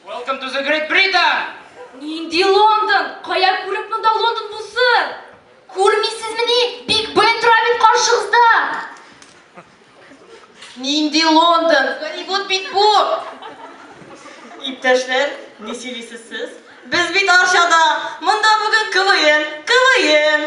Welcome to the Great Britain! Нинди Лондон? Кая күреп монда Лондон булсын? Күрмисезмени? Биг Бен тора бит каршыгызда. Нинди Лондон? Голливуд бит бу. Иптәшләр, ни сөйлисез сез? Без бит Арчада. Монда бүген КВН, КВН.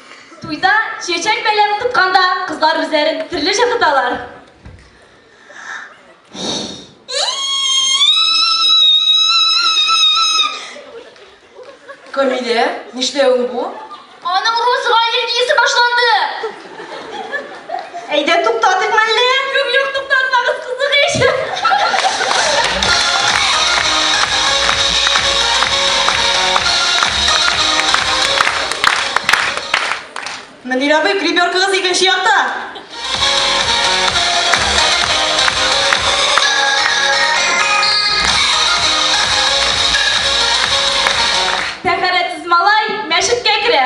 Туйда чәчәк бәйләвен тотканда кызлар үзләрен төрлечә тоталар. Камилә, нишләвең бу? Аның рус аллергиясе башланды! Әйдә, туктатыйк мәллә? Юк, юк, туктатмагыз, кызык ич. Мөнир абый, гребёркагыз икенче якта. Тәһарәтсез малай мәчеткә керә.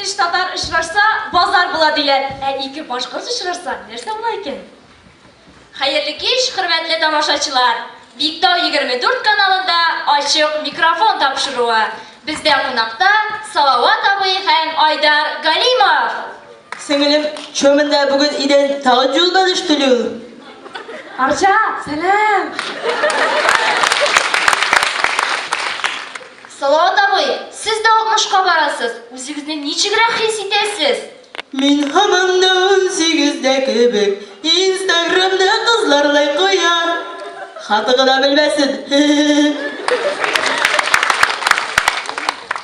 Өч татар очрашса, базар була диләр. Ә ике башкорт очрашса, нәрсә була икән? Хәерле кич, хөрмәтле тамашачылар! Биктау 24 каналында ачык микрофон тапшыруы. Бездә кунакта Салават абый һәм Айдар Галимов! Сеңелем, чё монда бүген идән тагын юлдан өштелү? Арча, сәлам! Салават абый, сез дә алтмышка барасыз, үзегезне ничегрәк хис итәсез? Мин һаман да унсигездә кебек, инстаграмда кызлар лайк куя. Хаты гына белмәсен, хе-хе-хе.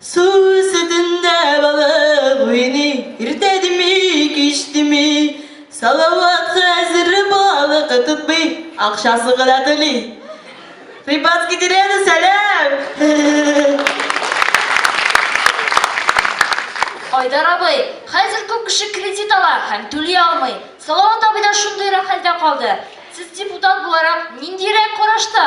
Су өстендә балык уйный, Иртә дими, кич дими. Салават хәзер балык тотмый, Акчасын гына түли. Рыбацкий деревня, сәлам! Айдар абый, хәзер күп кеше кредит ала һәм түли алмый. Салават абый да шундыйрак хәлдә калды. Сез депутат буларак, ниндиерәк карашта?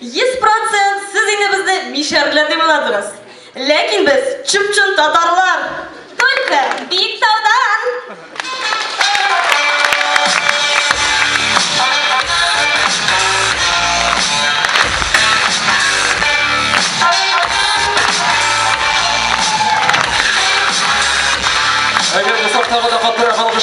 Йөз процент сез инде безне мишәрләр дип уйладыгыз. Ләкин без чып-чын татарлар! Только Биектаудан! Әгәр булса, тагы да катырак алгышлар!